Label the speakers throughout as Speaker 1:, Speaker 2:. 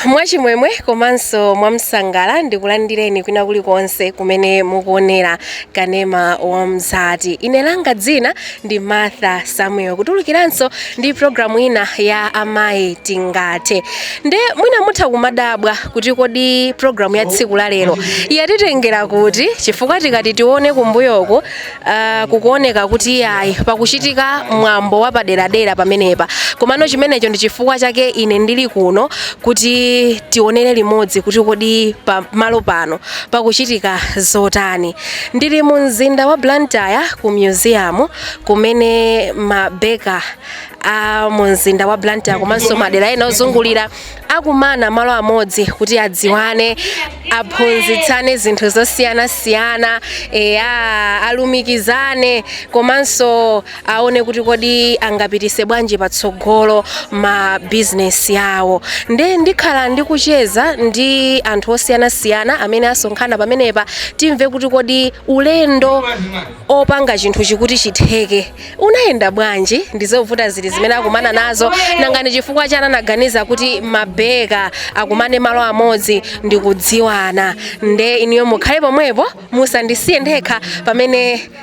Speaker 1: mwachimwemwe komanso mwamsangala ndikulandireni kwina kulikonse kumene mukuonera kanema wa mzati ine langa dzina ndi martha samuel kutulukiranso ndi programu ina ya amayi tingathe nde mwina mutha kumadabwa kuti kodi programu ya tsiku la lero yatitengera kuti chifukwa tikati tione kumbuyoku uh, kukuoneka kuti ayi pakuchitika mwambo wapaderadera pamenepa komano chimenecho ndi chifukwa chake ine ndili kuno kuti tionere limodzi kuti kodi pamalo pano pakuchitika zotani Ndili mu mzinda wa Blantyre ku museum kumene mabeka a mu mzinda wa Blantyre komanso madera ena ozungulira akumana malo amodzi kuti adziwane aphunzitsane zinthu zosiyanasiyana alumikizane komanso aone kuti kodi angapitise bwanji patsogolo ma bizinesi awo nde ndikhala ndikucheza ndi anthu osiyanasiyana amene asonkhana pamenepa timve kuti kodi ulendo opanga chinthu ichi kuti chitheke unayenda bwanji ndizovuta zili zimene akumana nazo nanga ndi chifukwa chani anaganiza kuti mabeka akumane malo amodzi ndikudziwana nde inuyo mukhale pomwepo musandisiye ndekha pamene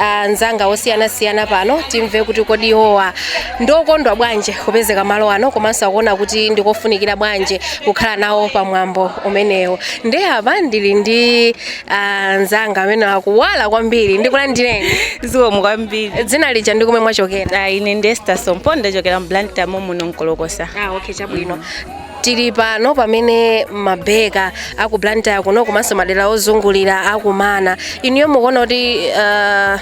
Speaker 1: anzanga osiyanasiyana pano timve kuti kodi iwowa ndokondwa bwanji kupezeka malo ano komanso akuona kuti ndikofunikira bwanji kukhala nawo pa mwambo umenewu nde apa ndili ndi anzanga amene akuwala kwambiri ndikulandireni zikomo
Speaker 2: kwambiri dzina lija ndi komwe
Speaker 1: mwachokera Ah, ine ndi Esther
Speaker 2: Sompo ndachokera mu blantyre muno Nkolokosa ah, okay chabwino
Speaker 1: tili pano pamene mabeka aku blantyre kuno komanso madera ozungulira akumana inuyo mukuona kuti uh,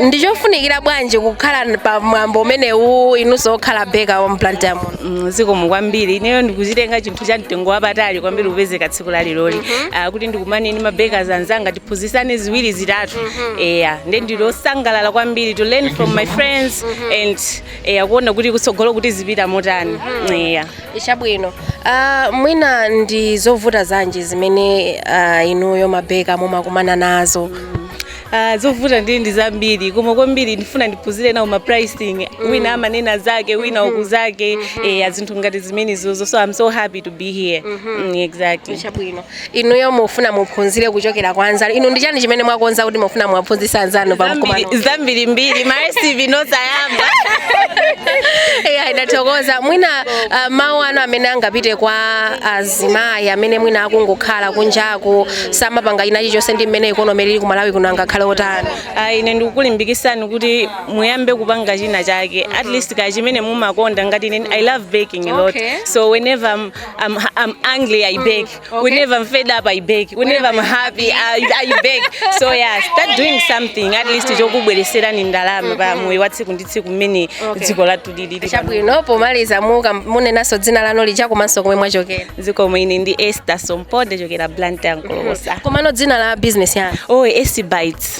Speaker 1: ndi chofunikira bwanji kukhala pa mwambo umenewu inunso okhala beka wa mblantyre muno Mm, zikomo kwambiri
Speaker 2: ineyo ndikuchitenga chinthu cha mtengo wapatali kwambiri kupezeka tsiku laleroli Ah, kuti ndikumane ndi mabeka anzanga tiphunzisane ziwiri zitatu eya nde ndili osangalala kwambiri to learn from my friends and eya kuona kuti kutsogolo tizipita motani eya
Speaker 1: chabwino uh, mwina ndi zovuta zanji zimene uh, inuyo mabeka mumakumana nazo Ah,
Speaker 2: zovuta ndi ndi zambiri koma kwambiri ndifuna ndiphunzire nawo ma pricing wina amanena zake wina uku zake eya zinthu ngati zimenezozo so i'm so happy to be here Mm, exactly chabwino
Speaker 1: inuyo mufuna muphunzire kuchokera kwa anzanu inu ndi chani chimene mwakonza kuti mufuna muwaphunzitse anzanu pa mkumano Zambiri-
Speaker 2: zambirimbiri maresipi nosayamba eya
Speaker 1: ndathokoza mwina uh, mawu anu amene angapite kwa azimayi amene mwina akungokhala kunjaku samapanga china chilichonse ndi mmene ikonomi ili ku malawi kuno angakhale otani Ah,
Speaker 2: ine ndikukulimbikisani kuti muyambe kupanga china chake at least ka chimene mumakonda ngati ine i love baking a lot Okay. so whenever I'm, I'm, I'm angry, I bake. Okay. Whenever I'm fed up, I bake. Whenever I'm happy, I, I bake. So yeah, start doing something. At least chokubwereserani ndalama pa moyo wa tsiku ndi tsiku mmene dziko lathu lilili. Chabwino
Speaker 1: pomaliza muka munenaso dzina lanu lija komanso komwe mwachokera. Zikomo ine ndi
Speaker 2: Esther Sompo ndachokera Blantyre Nkolokosa. Komano dzina la
Speaker 1: business yanu. Oh, Esi Bites.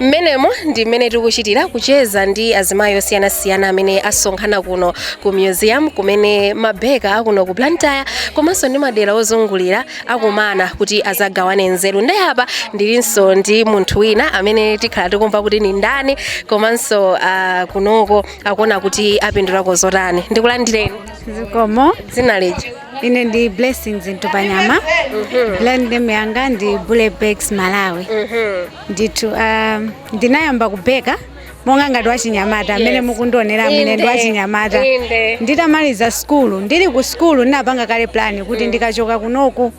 Speaker 1: mmenemo ndi mmene tikuchitira kucheza ndi azimayi osiyanasiyana amene asonkhana kuno ku museum kumene mabeka akuno ku blantyre komanso ndi madera ozungulira akumana kuti azagawane nzeru nde apa ndilinso ndi munthu wina amene tikhala tikumva kuti ni ndani komanso uh, kunoko akuona kuti apindulako zotani ndikulandireni
Speaker 3: zikomo dzina lija
Speaker 1: ine ndi
Speaker 3: blessings ntupanyama brand name yanga ndi bully bakes malawi ndithu ah, ndinayamba kubeka monga ngati wachinyamata mmene Yes. mukundioneramu ine ndi Inde. wachinyamata Inde. nditamaliza skulu ndili ku skulu ndinapanga kale plani kuti ndikachoka kunoku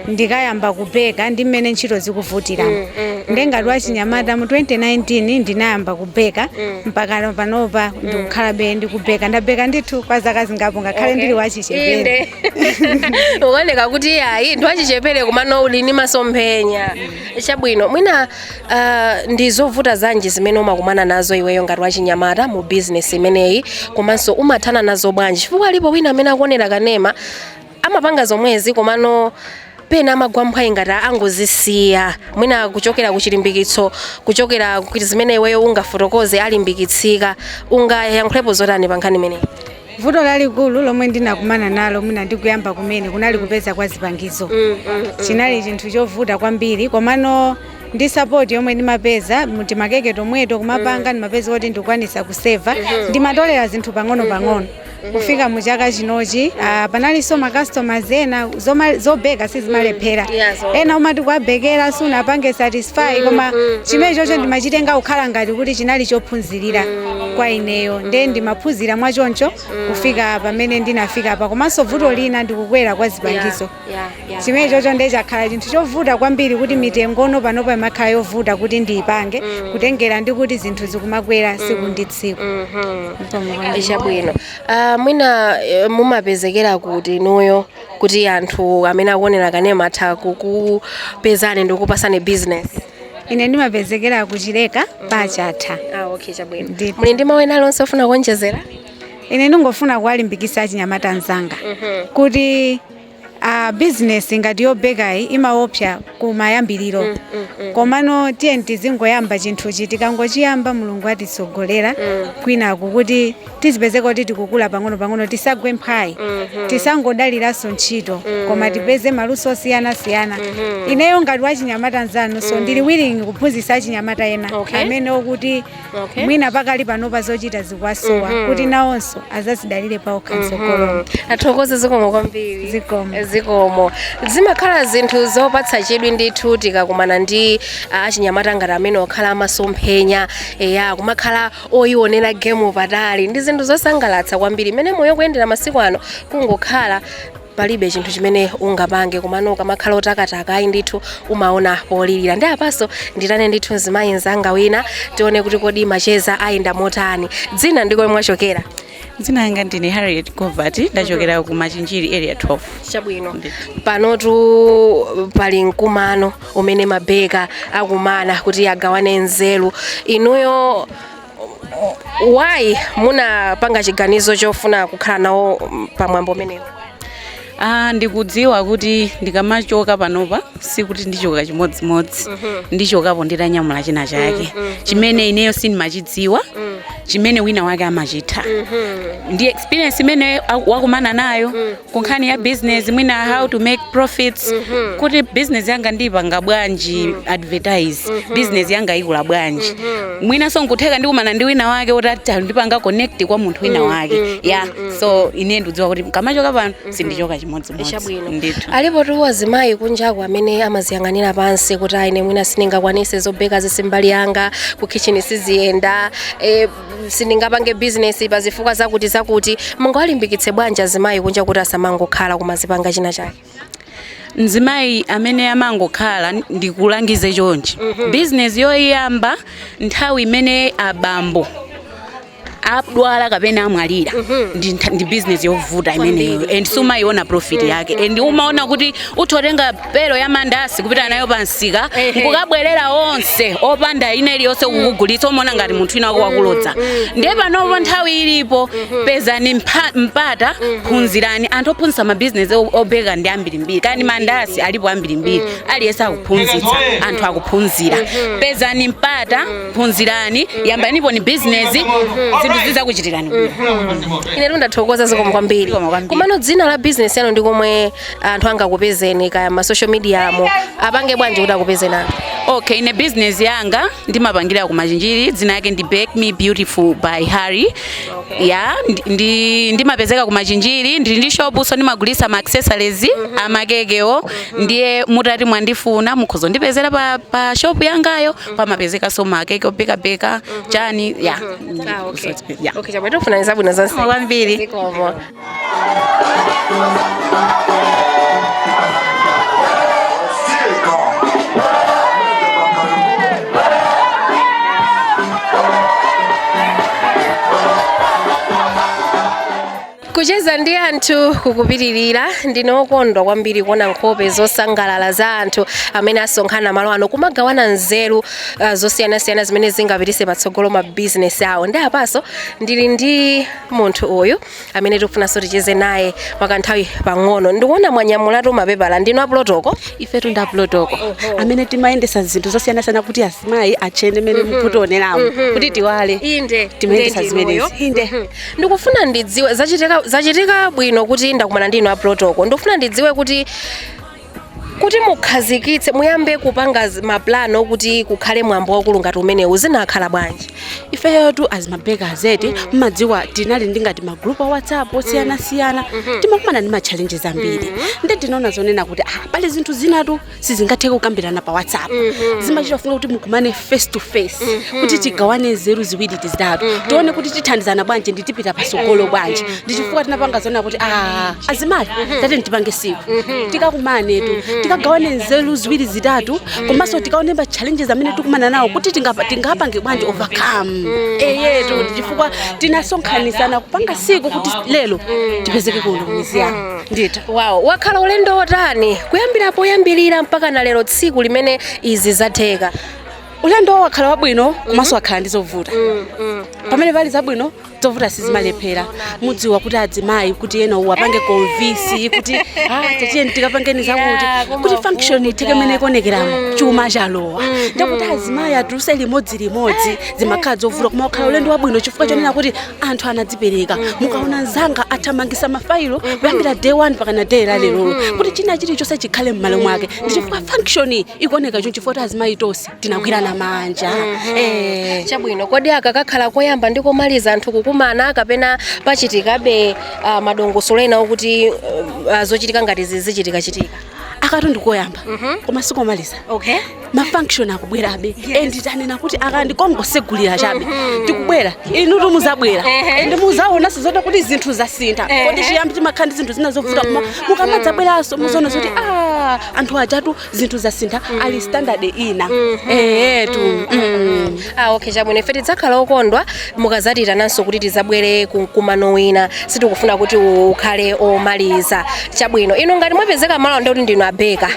Speaker 3: ndikayamba kubeka ndi mmene ntchito zikuvutiramo nde ngati wachinyamata mu 2019 ndinayamba kubeka mpaka panopa ndikukhalabe ndikubeka ndabeka ndithu kwa zaka zingapo ngakhale Okay. ndili wachichepere inde
Speaker 1: ukuoneka kuti ayi ndi wachichepere komano uli ni masomphenya chabwino mwina uh, ndi zovuta zanji zimene umakumana nazo iweyo ngati wachinyamata mu business imeneyi komanso umathana nazo bwanji chifukwa alipo wina amene akuonera kanema amapanga zomwezi komano pena amagwa mphwayi ngati angozisiya mwina kuchokera ku chilimbikitso kuchokera ku zimene iweyo ungafotokoze alimbikitsika ungayankhulepo zotani pa nkhani imeneyi Vuto lalikulu
Speaker 3: lomwe ndinakumana nalo mwina ndikuyamba kumene kunali kupeza kwa zipangizo chinali chinthu chovuta kwambiri komano ndi sapoti yomwe ndimapeza mu timakeke tomweto kumapanga ndimapeza kuti ndikukwanisa kuseva ndimatolera zinthu pang'ono-pang'ono kufika mu chaka chinochi ah, panalinso makastomers ena zoma- zobeka sizimalephera Yeah, so- ena umati kuwabekera sunapange satisfy koma chimenechocho ndimachitenga kukhala ngati kuti chinali chophunzirira kwa ineyo nde ndimaphunzira mwachoncho kufika pamene ndinafikapa komanso vuto lina ndikukwera kwa zipangizo Yeah, yeah. chimenechocho nde chakhala chinthu chovuta kwambiri kuti mitengono panopa imakhala yovuta kuti ndiyipange kutengera ndi kuti zinthu zikumakwera siku ndi tsiku Ndipo mukuona.
Speaker 1: chabwino Uh, mwina eh, mumapezekera kuti inuyo kuti anthu amene akuonera kanema atha kukupezani ndi kukupatsani business ine
Speaker 3: ndimapezekera ku Chileka pa Chatha ah, okay,
Speaker 1: chabwino Ndipo. muli ndi mawu ena alionse ofuna kuonjezera ine ndingofuna
Speaker 3: kuwalimbikitsa achinyamata anzanga kuti business ngati yobekayi imaopsa kumayambiriro mm, mm, mm. komano tiyeni tizingoyamba chinthuchi tikangochiyamba mulungu atitsogolera mm. kwinaku kuti tizipezeka kuti tikukula pang'ono pang'ono tisagwe mphwayi mm -hmm. tisangodaliranso ntchito mm -hmm. koma tipeze maluso osiyanasiyana mm -hmm. ineyo ngati wachinyamata mzanu so mm. ndili willing kuphunzitsa achinyamata ena okay. amene okuti Okay. mwina pakali panopa zochita zikuwasowa kuti nawonso azazidalire paokha mtsogolomo tathokoza zikomo
Speaker 1: kwambiri Zikomo. zikomo
Speaker 3: zimakhala
Speaker 1: zinthu zopatsa chidwi ndithu tikakumana ndi ah, achinyamata ngati amenewa okhala amasomphenya eya kumakhala oyionera gemu patali ndi zinthu zosangalatsa kwambiri mmene moyo ukuyendera masiku ano kungokhala palibe chinthu chimene ungapange komano ukamakhala otakataka ayi ndithu umaona polirira ndiye apanso ndiitane ndithu mzimayi mzanga wina tione kuti kodi macheza ayenda motani dzina ndi komwe mwachokera dzina
Speaker 4: langa ndine harriet govati ndachokera ku machinjiri area 12
Speaker 1: chabwino panotu pali mkumano umene mabeka akumana kuti agawane nzeru inuyo why munapanga chiganizo chofuna kukhala nawo mm, pa mwambo umenewu Ah,
Speaker 4: ndikudziwa kuti ndikamachoka panopa sikuti ndichoka chimodzimodzi ndichokapo nditanyamula china chake chimene ineyo sindimachidziwa chimene wina wake amachitha ndi experience imene wakumana nayo ku nkhani ya business mwina how to make profits mm -hmm. kuti business yanga ndiipanga bwanji mm -hmm. advertise mm -hmm. business yanga ikula bwanji mm -hmm. mwinanso nkutheka ndikumana ndi wina wake oti atandipanga connect kwa munthu wina mm, wake mm -hmm. ya mm -hmm. so ine ndikudziwa kuti ndikamachoka pano mm -hmm. sindichoka chimodzimodzi
Speaker 1: ndithu alipotu azimayi kunjaku amene amaziyang'anira pansi kuti ah ine mwina sindingakwanise zobeka izi si mbali yanga ku kitchen siziyenda e, sindingapange bizinesi pa zifukwa zakuti zakuti mungawalimbikitse bwanji azimayi kunja kuti asamangokhala koma azipanga china chake mzimayi
Speaker 4: amene amangokhala ndikulangize chonchi bizinesi yoyamba nthawi imene abambo adwala kapena amwalira ndi ntha- ndi bizinesi yovuta imeneyo and sumayiona profit yake and umaona kuti utha kutenga belu ya mandasi kupita nayo pa msika nkukabwerera onse opanda ina iliyonse kukugulitsa umaona ngati munthu wina wako wakulodza ndiye panopo nthawi ilipo pezani mpa- mpata phunzirani anthu ophunzitsa mabizinesi o- obeka ndi ambirimbiri kani mandasi alipo ambirimbiri aliyense akuphunzitsa anthu akuphunzira pezani mpata phunzirani yambaniponi bizinesi zinthu zizakuchitirani bwino ine
Speaker 1: ndathokoza zikomo kwambiri Zikomo kwambiri. komano dzina la bizinesi yanu ndi komwe anthu angakupezeni kaya ma social media mo apange bwanji kuti akupezeni anthu
Speaker 4: okay ine business yanga ndimapangira ku machinjiri dzina yake ndi bake me beautiful by harry okay. ya ndi- ndi ndimapezeka ku machinjiri ndili ndi shop so ndimagulisa ma accessories amakekewo ndiye mutati mwandifuna mukhoza ndipezera pa, pa shop yangayo pamapezekaso makeke obeka beka chani ya Ah, okay.
Speaker 1: Yeah. okay chabwino tikufunirani zabwino zonse Zikomo kwambiri Zikomo. kucheza ndi anthu kukupitirira ndine okondwa kwambiri kuona nkhope zosangalala za anthu amene asonkhana malo ano kumagawana nzeru uh, zosiyanasiyana zimene zingapitise patsogolo mabizinesi awo nde apaso ndili ndi munthu uyu amene tikufunanso ticheze naye mwakanthawi pang'ono ndikuona mwanyamulatu mapepala ndinu apulotoko ifetu ndi apulotoko
Speaker 5: amene timayendesa zinthu zosiyanasiyana kuti azimayi atchene mmene mukutioneramo kuti tiwale inde Timayendesa inde zimenezi. inuyo. Inde. Mhm. ndikufuna
Speaker 1: ndidziwe zachitika zachitika bwino kuti ndakumana ndi inu apulotoko ndikufuna ndidziwe kuti kuti mukhazikitse muyambe kupanga zi- mapulani okuti kukhale mwambo wakulu ngati umenewu zinakhala bwanji ifeyo tu as
Speaker 5: mabekers eti mmadziwa tinali ndi ngati magrupu a whatsapp osiyanasiyana timakumana ndi matchalenjizi ambiri nde tinaona zonena kuti ah, pali zinthu zinatu sizingathe kukambirana pa whatsapp zimachita kufunika kuti mukumane face to face kuti tigawane nzeru ziwiri zitatu tione kuti tithandizana bwanji ndi tipita pasogolo bwanji ndi chifukwa tinapanga zona kuti a azimayi tatini tipange siku tikakumanetu tikagawane nzeru ziwiri zitatu komanso tikaone ma challenges amene tikumana nawo kuti tingapa- tingapange bwanji overcome eyetu ndi chifukwa tinasonkhanisana kupanga siku kuti lero tipezeke kuno miziyana Ndithu. Wow. Wakhala
Speaker 1: ulendo wotani kuyambira poyambirira mpaka na lero tsiku limene izi zatheka. ulendo
Speaker 5: wakhala wabwino komanso wakhala ndi zovuta pamene pali zabwino zovuta sizimalephera mudziwa kuti adzimayi kuti ena uwapange konvisi kuti "Ah, tatiye tikapangeni Yeah, zakuti koma kuti function wavuta. itheke mene ikonekeramo chuma chalowa nde kuti azimayi atuluse limodzi limodzi zimakhala zovuta koma wakhala ulendo wabwino chifukwa chonena kuti anthu anadzipereka mukaona anzanga athamangisa mafailo kuyambira day 1 mpaka na day la lerolo kuti china chilichonse chikhale mmalo mwake ndi chifukwa function iyi ikuoneka chonchi chifukwa azimayi tonse tinagwirana manja Eh.
Speaker 1: chabwino kodi aka kakhala koyamba ndi komaliza anthu kukumana kapena pachitikabe ah, madongosolo ena okuti ah, zochitika ngati zizichitika chitika akatu
Speaker 5: ndikoyamba koma sikomaliza okay mafunction akubwerabe and tanena kuti aka ndi kongotsegulira chabe tikubwera inu ndi muzabwera and muzaonanso zoti kuti zinthu zasintha kodi chiyambi chimakhala ndi zinthu zina zovuta koma mukamadzabweranso muzaona zoti ah, anthu ajatu zinthu zasintha ali standard ina eyetu
Speaker 1: Ah, okay chabwino ife tidzakhala okondwa mukadzatiitananso kuti tidzabwere ku mkumano wina sitikufuna kuti ukhale omaliza chabwino inu ngati mwapezeka malo ano ndi kuti ndinu a baker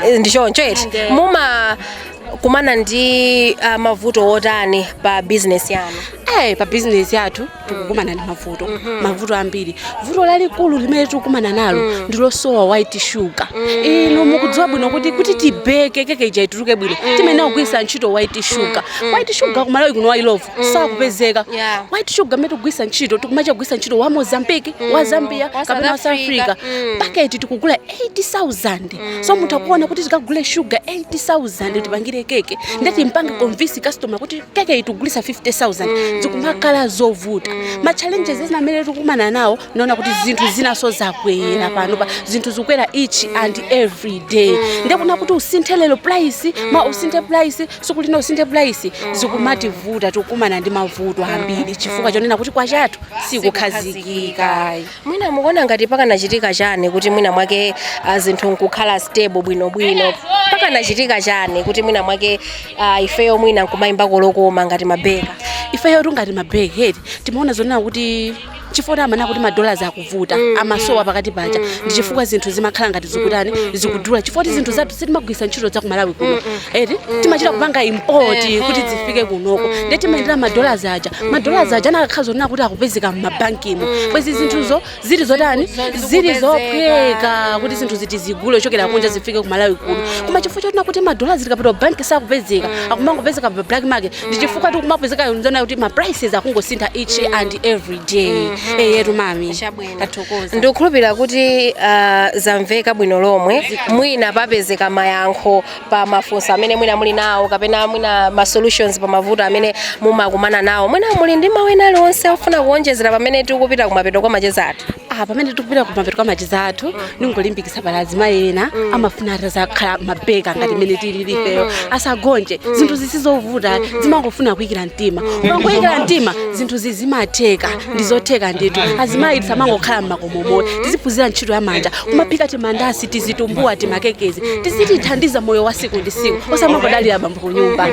Speaker 1: Eh, ndi choncho eti Nde. mumakumana ndi ah, mavuto otani pa bizinesi yanu Eh, pa business
Speaker 5: yathu tikukumana ndi mavuto mavuto ambiri vuto lalikulu limene tikukumana nalo ndi losowa white sugar inu mukudziwa bwino kuti kuti tibeke keke ija ituluke bwino timayenera kugwiritsa ntchito white sugar white sugar kumalawi kuno wa Illovo sakupezeka Yeah. white sugar imene tikugwiritsa ntchito tikumachita kugwiritsa ntchito wa mozambique wa zambia Wa South kapena wa south Africa. africa Mm. paketi tikugula 80000 so mukuona kuti tikagule sugar 80000 tipangire keke nde timpange convince customer kuti keke iyi tigulitsa 50000 mm. zikumakhala zovuta mm. ma challenges mm. ena amene tikukumana nawo nonena kuti zinthu zinaso zakwera mm. panopa zinthu zikukwera each mm. and every day mm. nde kunena kuti usinthe lero price mm. mawa usinthe price tsiku lina usinthe price mm. zikumativuta tikukumana ndi mavuto ambiri mm. chifukwa chonena kuti kwacha yathu sikukhazikika Mwina
Speaker 1: mukuona ngati pakanachitika chani kuti mwina mwake ah, zinthu nkukhala stable bwinobwino pakanachitika chani kuti mwina mwake ah, ifeyo mwina nkumayimba lokoma ngati ma baker ifeyo
Speaker 5: ngati ma baker timaona zonena kuti chifukwa amanena kuti madollars akuvuta amasowa pakati paja ndi chifukwa zinthu zimakhala ngati zikutani zikudula chifukwa choti zinthu zathu sitimagwiritsa ntchito za kumalawi kuno eti timachita kupanga import Eh, kuti eh. zifike konkuno Mm, nde timayendera madollars aja madollars aja anakakhala zonena kuti akupezeka m'mabankimo bwezi zinthuzo zili zotani Zinthu zo- zili zikupezeka. zophweka kuti zinthu zija tizigule kuchokera kunja zifike ku malawi kuno koma chifukwa chonena kuti madolars ukapita ku banki sakupezeka akumangopezeka pa black market ndi chifukwa zikumapezeka zonena kuti ma prices akungosintha each and every day eyetu mami Chabwino. tathokoza
Speaker 1: ndikukhulupirira
Speaker 5: kuti
Speaker 1: ah, zamveka bwino lomwe mwina papezeka mayankho pa mafunso amene mwina muli nawo kapena mwina ma solutions pa mavuto amene mumakumana nawo mwina muli ndi mawu ena aliwonse ofuna kuonjezera pamene tikupita kumapeto kwa macheza athu Ah, pamene tikupita kumapeto
Speaker 5: kwa macheza athu ndingolimbikisa pali azimayi ena amafuna atazakhala mabeka ngati mmene tilili ifeyo asagonje zinthu sizovuta zimangofuna kuyikira mtima ukangoyikira mtima zinthu zizimatheka ndizotheka ndithu azimayi tisamangokhala m'mako momo tiziphunzira ntchito ya manja kumaphika timandasi tizitumbuwa timakekezi tizitithandiza moyo wa siku ndi siku osamangodalira bambo kunyumba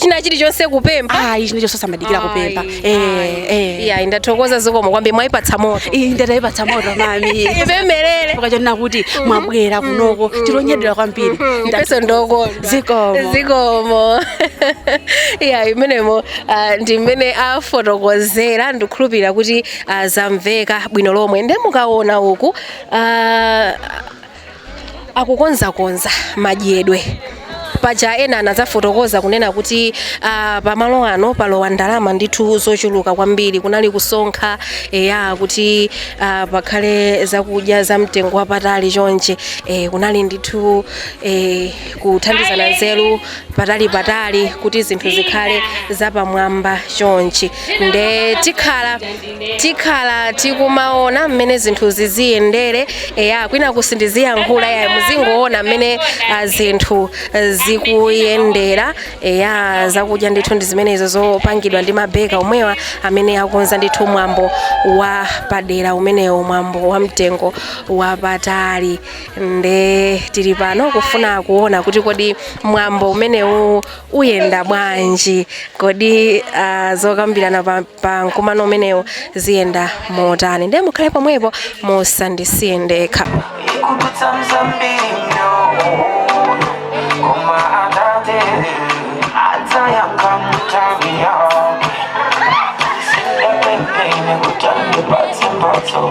Speaker 5: china
Speaker 1: chilichonse kupempha ayi chinachilichonse osamadikira
Speaker 5: kupempha Ayi, Eh, eh.
Speaker 1: iya ndathokoza zikomo kwambiri mwayipatsa moto Iyi ndayipatsa
Speaker 5: moto mami ipemerere
Speaker 1: chifukwa chonena
Speaker 5: kuti mwabwera kunoko tikunyadira kwambiri mpeso ndoko
Speaker 1: zikomo zikomo iya imenemo Ah, ndi mmene afotokozera ndikukhulupirira kuti ah, zamveka bwino lomwe nde mukaona uku ah, akukonzakonza madyedwe paja ena anadzafotokoza kunena kuti ah, pamalo ano palowa ndalama ndithu zochuluka kwambiri kunali kusonkha eya kuti ah, pakhale zakudya za mtengo wapatali chonchi eh, kunali ndithu eh, kuthandizana nzeru patalipatali kuti zinthu zikhale zapamwamba chonchi nde tikhala tikhala tikumaona mmene zinthu ziziyendere eya kwina sindiziyankhula ya muzingoona mmene ah, zinthu eh, zikuyendera eya zakudya ndithu ndi zimenezo zopangidwa ndi mabeka omwewa amene akonza ndithu mwambo wa padera umenewo mwambo wa mtengo wapatali nde tili pano kufuna kuona kuti kodi mwambo umenewu uyenda bwanji kodi uh, zokambirana pa, pa mkumano umenewu ziyenda motani nde mukhale pomwepo musandisiye ndekha Ikudutsa mzambiri mnyono Koma atate Adzayankha mutawi yake Sindapempene kuti andipatse mphatso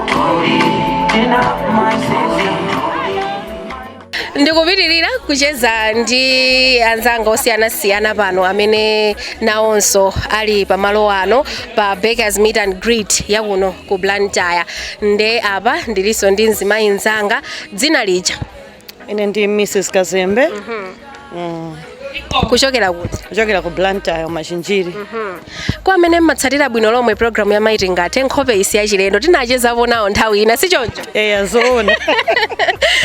Speaker 1: ndikupitirira kucheza ndi anzanga osiyanasiyana pano amene nawonso ali pamalo ano pa bakers meet and greet yakuno ku blantyre nde apa ndilinso ndi mzimayi mzanga dzina lija ine
Speaker 6: ndi mrs kazembe
Speaker 1: Mm. kuchokera kuti kuchokera ku
Speaker 6: blantyre machinjiri kwa
Speaker 1: amene mmatsatira bwino lomwe programu ya maiti ngati nkhope isi yachilendo tinachezapo nawo nthawi ina si choncho eya zoona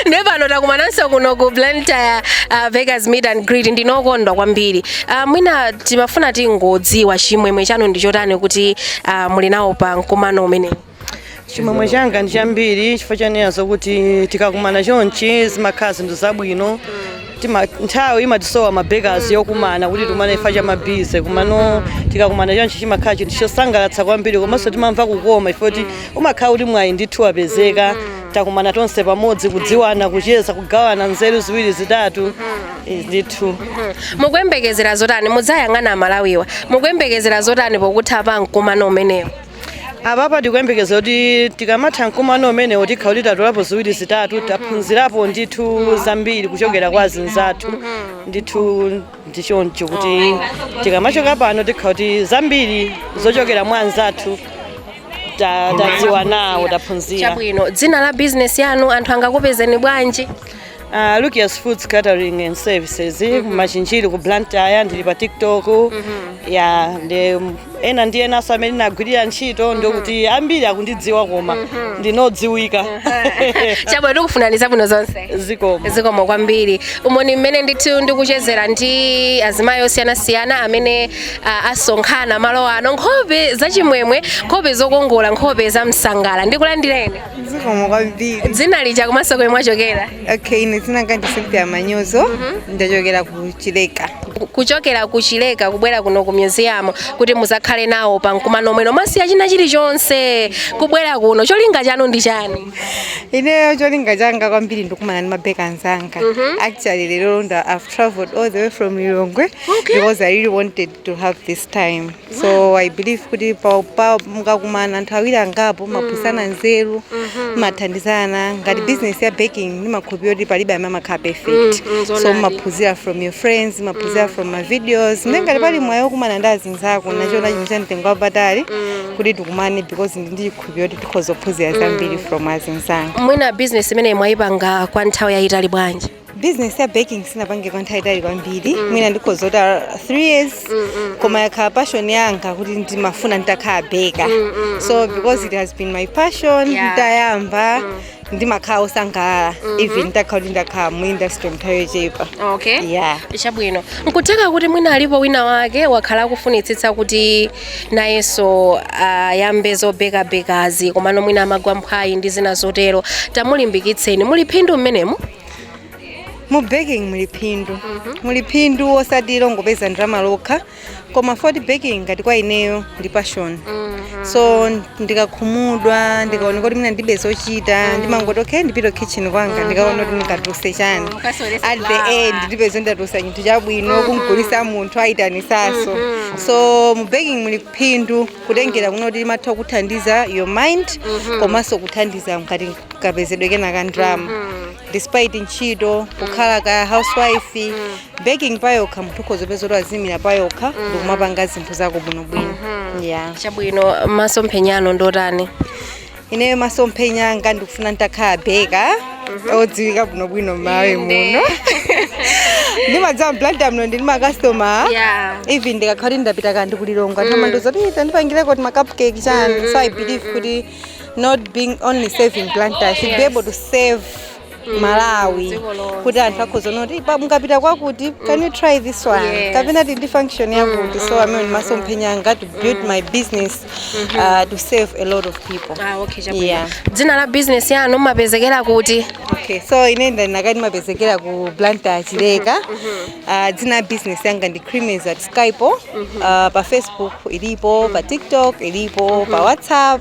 Speaker 1: ndiye pano takumananso kuno ku blantyre uh, bakers meet and greet ndine okondwa kwambiri uh, mwina timafuna tingodziwa chimwemwe chanu ndi chotani kuti uh, muli nawo pa mkumano umenewu
Speaker 6: chimwemwe changa ndi chambiri chifukwa chonena zokuti tikakumana chonchi zimakhala zinthu zabwino Tima- nthawi imatisowa mabekaz yokumana kuti tikumane chifukwa cha mabize kumano tikakumana chonchi chimakhala chinthu chosangalatsa kwambiri komanso timamva kukoma ife kuti umakhala kuti mwayi ndithu wapezeka takumana tonse pamodzi kudziwana kucheza kugawana nzeru ziwiri zitatu Eh, ndithu mukuyembekezera
Speaker 1: zotani mukayang'ana aMalawiwa mukuyembekezera zotani pokutha pa mkumano umenewu
Speaker 6: apapa tikuyembekeza kuti tikamatha mkumano umenewo tikhala kuti tatolapo ziwiri zitatu taphunzirapo ndithu zambiri kuchokera kwa azinzathu ndithu ndichoncho kuti tikamachoka pano tikhala kuti zambiri zochokera mwa
Speaker 1: anzathu ta- tadziwa nawo taphunzira chabwino dzina
Speaker 6: la
Speaker 1: bizinesi yanu anthu angakupezeni
Speaker 6: bwanji Uh, Lukias Foods Catering and Services ku Machinjiri ku Blantyre ndili pa TikTok ya ndi ena ndi enaso amene ndinagwirira ntchito ndikuti ambiri akundidziwa koma ndine
Speaker 1: odziwika chabwino tikufunirani zabwino zonse zikomo zikomo kwambiri umo ndi mmene ndithu ndikuchezera ndi azimayi osiyanasiyana amene ah, asonkhana malo ano nkhope zachimwemwe nkhope zokongola nkhope za msangala ndikulandireni zikomo
Speaker 3: kwambiri dzina lija komanso
Speaker 1: komwe mwachokera okay ine dzina
Speaker 3: langa ndi cynthia manyozo ndachokera ku chileka kuchokera ku
Speaker 1: chileka kubwera kuno ku museum kuti muzakhale nawo pa mkumano uno mwasiya china chilichonse kubwera kuno cholinga chanu ndi chani
Speaker 3: ineyo cholinga changa kwambiri nkukumana ndi mabeka anzanga actually lero ndo i've traveled all the way from lilongwe because i really wanted to have this time so i believe kuti pa- pa- mukakumana anthu awiri angapo mumaphunzitsana nzeru mumathandizana ngati business ya baking ndimakhulupira kuti palibe amene amakhala perfect Mm, mm, so zoonadi. umaphunzira from your friends umaphunzira from ma videos ndi ngati pali mwayi okumana ndi azinzako ndachiona chinthu cha mtengo wapatali kuti tikumane because ndi ndichikhulupira kuti tikhoza kuphunzira zambiri from azinzanga mwina business
Speaker 1: imeneyi mwayipanga kwa nthawi yayitali bwanji bizinesi ya
Speaker 3: baking sinapange kwa nthawi yaitali kwambiri mwina ndikhoza kunena kuti 3 years koma yakhala passion yanga kuti ndimafuna nditakhala beka so because it has been my passion Yeah. nditayamba ndimakhala osangalala even nditakhala kuti ndakhala mu industry mnthawi yochepa okay yeah
Speaker 1: chabwino nkutheka kuti mwina alipo wina wake wakhala akufunitsitsa kuti nayenso ayambe zobekabekazi komano mwina amagwa mphwayi ndi zina zotero tamulimbikitseni muli phindu
Speaker 3: mmenemo mu baking muli phindu muli phindu osati longopeza ndalama lokha koma for baking ngati kwa ineyo ndi passion so ndikakhumudwa ndikaona kuti mwina ndilibe zochita ndimangoti okay ndipita kitchen kwanga ndikaone kuti ndikatuluse chani at the end ndipeza ndatulusa chinthu chabwino kumgulisa munthu ayitanisaso so mu baking muli phindu kutengera kuno kuti limatha kuthandiza your mind komanso kuthandiza ngati kapezedwe kena ka ndalama despite ntchito kukhala ka housewife baking payokha munthu ukhoza kupeza kuti azimira payokha ndikumapanga zinthu zako bwinobwino yeah chabwino
Speaker 1: masomphenya anu ndi otani
Speaker 3: ineyo masomphenya anga ndikufuna nditakhala beka odziwika bwinobwino mmawe muno ndimadziwa mBlantyre muno ndi makastoma Yeah. even ndikakhala kuti ndapita kandi ku Lilongwe amandiuza kuti tandipangireko timacupcake chani so i believe kuti not being only serving Blantyre i should be able to serve malawi Dziko lonse. kuti anthu akhoza kuona kuti "Pa- mukapita kwakuti can you try this one Yes. kapena tili ndi function yakuti so amene masomphenya anga to build my business uh, to serve a lot of people Ah, okay, chabwino. Yeah. dzina
Speaker 1: la business yanu mumapezekera kuti okay so
Speaker 3: ine ndinakati timapezekera ku Blantyre chileka uh, dzina la business yanga ndi creamies at Skype uh, pa facebook ilipo pa tiktok ilipo pa whatsapp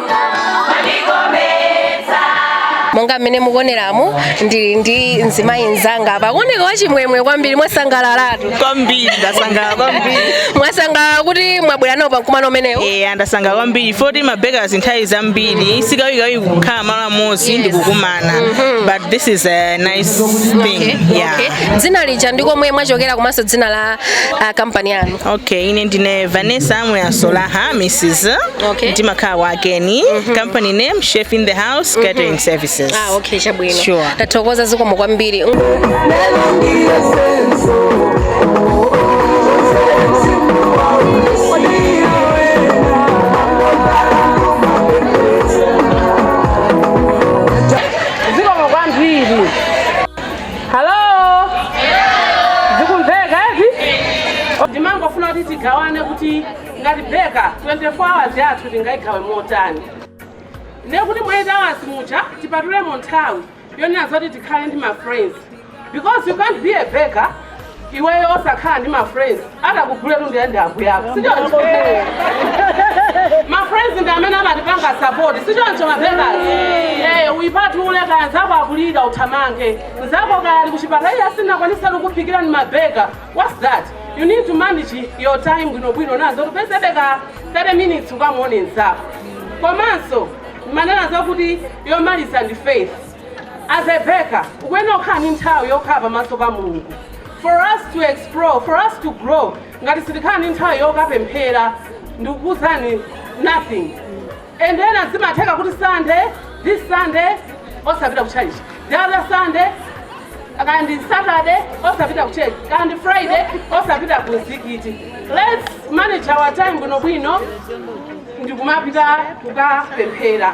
Speaker 1: monga mmene mukuoneramu ndili ndi mzimayi nzanga apa kuoneka wachimwemwe kwambiri mwasangalalatu kwambiri ndasangalala
Speaker 2: kwambiri mwasangalala kuti
Speaker 1: mwabwera nawo pamkumano umenewu Eh, ndasangalala
Speaker 2: kwambiri poti mabakers nthawi zambiri sikawikawi kukhala malo amodzi ndi kukumana but this is a nice thing Okay, yeah okay. dzina
Speaker 1: lija ndi komwe mwachokera komanso dzina la ah, kampani yanu okay ine
Speaker 2: ndine vanessa muyasolaha mrs Okay. ndimakhala kwa Keni company name chef in the house catering services ah
Speaker 5: okay chabwino
Speaker 1: Sure. tathokoza
Speaker 5: zikomo
Speaker 1: kwambiri
Speaker 7: halo zikumveka eti ndimangofuna kuti tigawane kuti ngati beka 24 hours yathu tingayigawe motani ne kuti mu 8 hours muja tipatulemo nthawi yonena zoti tikhale ndi ma friends because you can't be a baker iweyo osakhala ndi ma friends atakugule katundu ya ndi abwenzako sichoncho ma friends ndi amene amatipanga support sichoncho mabakers eh uyipatule kaya nzako akulira uthamange nzako kaya ali kuchipatala iye asinakwanisa kukuphikira ni mabeka what's that you need to manage your time bwinobwino nazo upezebe ka 30 minutes ukamuone nzako komanso amanena zakuti yomaliza ndi faith As a baker, ukuyenera kukhala ndi nthawi yokhala pamaso pa Mulungu. For us to explore, for us to grow, ngati sitikhala ndi nthawi yokapemphera ndikukuuzani nothing. And ena zimatheka kuti Sunday, this Sunday, osapita ku church. The other Sunday, kaya ndi Saturday, osapita ku church. Kaya ndi Friday, osapita ku mzikiti. Let's manage our time bwinobwino ndikumapita kukapemphera.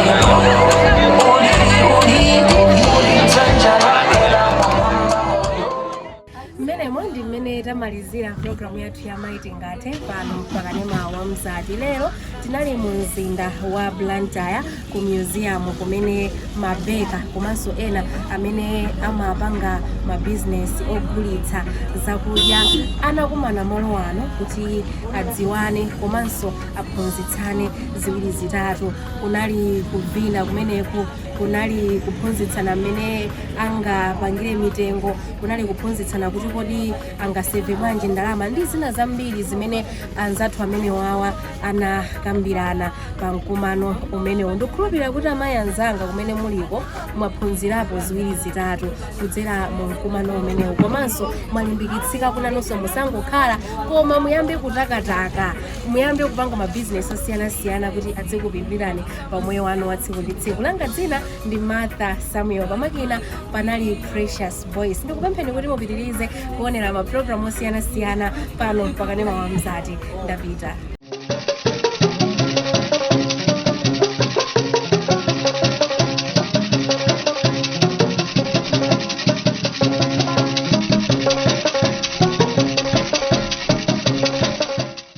Speaker 1: mmenemo ndi mmene tamalizira programu yathu ya mayi tingathe pano pakanema wa mzati lero tinali mu mzinda wa blantyre ku museum kumene mabeka komanso ena amene amapanga mabizinesi ogulitsa zakudya anakumana malo ano kuti adziwane komanso aphunzitsane ziwiri zitatu kunali kuvina kumeneku kunali kuphunzitsana mmene angapangire mitengo kunali kuphunzitsana kuti kodi angaseve bwanji ndalama ndi zina zambiri zimene anzathu amenewawa anakambirana pa mkumano umenewu ndikukhulupirira kuti amayi anzanga kumene muliko mwaphunzirapo ziwiri zitatu kudzera mu mkumano umenewu komanso mwalimbikitsika kunena kuti musangokhala koma muyambe kutakataka muyambe kupanga mabizinesi osiyanasiyana kuti adzikupindulirani pa moyo wanu wa tsiku ndi tsiku langa dzina ndi martha samuel pamakina panali precious voice ndikupempheni kuti mupitirize kuonera mapulogalamu osiyanasiyana pano pakanema wa mzati ndapita